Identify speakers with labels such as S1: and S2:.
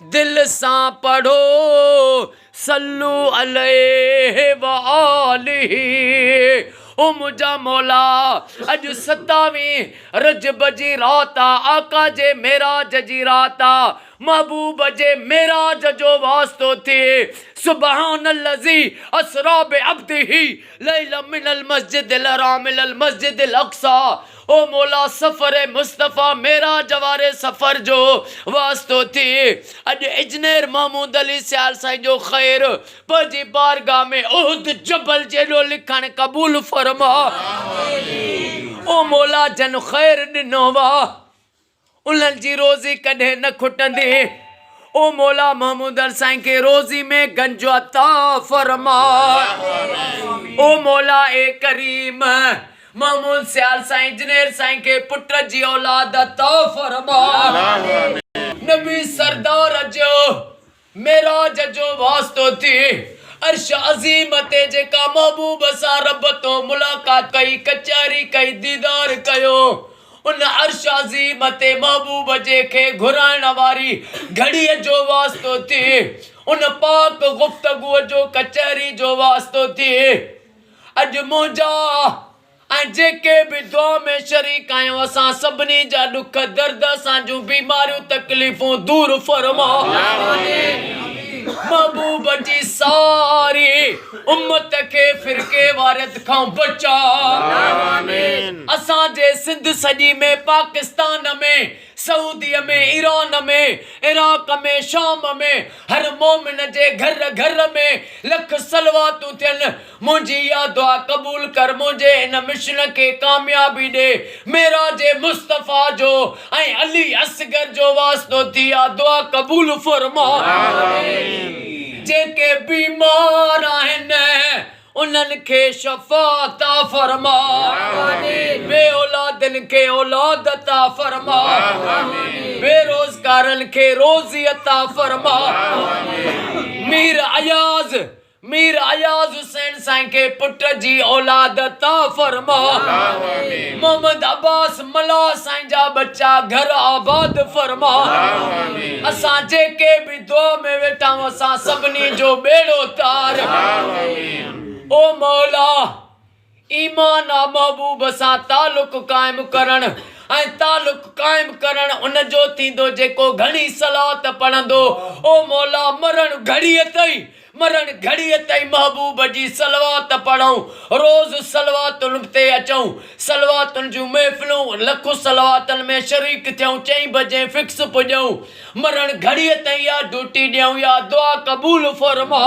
S1: دل سان پڙهو صلو عليه و آله او منهنجا مولا اڄ ستاويهين رجب جي رات آ آقا جي معراج جي رات آ محبوب جي معراج جو واسطو ٿئي سبحان الذي اسري بعبده ليلا من المسجد الحرام الى المسجد الاقصي او مولا سفر مصطفيٰ معراج واري سفر جو واسطو ٿئي اڄ اجنير محمود علي سيال سائين جو خير پنهنجي بارگاھ ۾ احد جبل جيڏو لکڻ قبول فرماء او مولا جن خير ڏنو واھ. انهن جي روزي ڪڏهن نه کٽندي. او مولا محمود هر سائين کي روزي ۾ گنج عطا فرماء. او مولا اي ڪريم محمود سيال سائين جنير سائين کي پٽ جي اولاد عطا فرماء. نبي سردار جو معراج جو واسطو ٿي عرش عظيم تي جيڪا محبوب سان رب تو ملاقات ڪئي ڪچهري ڪئي ديدار ڪيو ان عرش عظيم تي محبوب جي کي گهرائڻ واري گهڙي جو واسطو ٿي ان پاڪ گفتگو جو ڪچهري جو واسطو ٿي اڄ منهنجا ۽ جيڪي به دعا ۾ شريڪ آهيون اسان سڀني جا ڏک درد اسان جون بيماريون تڪليفون دور فرماء محبوب جي ساري امت کي فرقي واريت کان بچاء اسان جي سنڌ سڄي ۾ پاڪستان ۾ سعودي ۾ ايران ۾ عراق ۾ شام ۾ هر مومن جي گهر گهر ۾ لک صلواتون ٿين منهنجي اها دعا قبول ڪر منهنجي هن مشن کي ڪاميابي ڏي معراج مصطفيٰ جو ۽ علي اصغر جو واسطو ٿي اها دعا قبول فرما جيڪي بيمار آهن انهن کي شفا عطا فرما بي اولادن کي اولاد عطا فرما بي روزگارن کي روزي عطا فرما مير اياز مير اياز حسين سائين کي پٽ جي اولاد عطا فرما محمد عباس ملاح سائين جا ٻچا گهر آباد فرما اسان جيڪي به دعا ۾ ويٺا آهيون اسان سڀني جو ٻيڙو تار او مولا. ايمان ۽ محبوب سان تعلق قائم ڪرڻ ۽ تعلق قائم ڪرڻ ان جو ٿيندو جيڪو گهڻي صلوات پڙهندو او مولا مرڻ گهڙيء تائين مرڻ گهڙيء تائين محبوب جي صلوات پڙهون روز صلواتن تي اچون صلواتن جون محفلون لک صلواتن ۾ شريڪ ٿيون چئين بجي فڪس پڄون مرڻ گهڙيء تائين اها ڊيوٽي ڏيون يا دعا قبول فرما.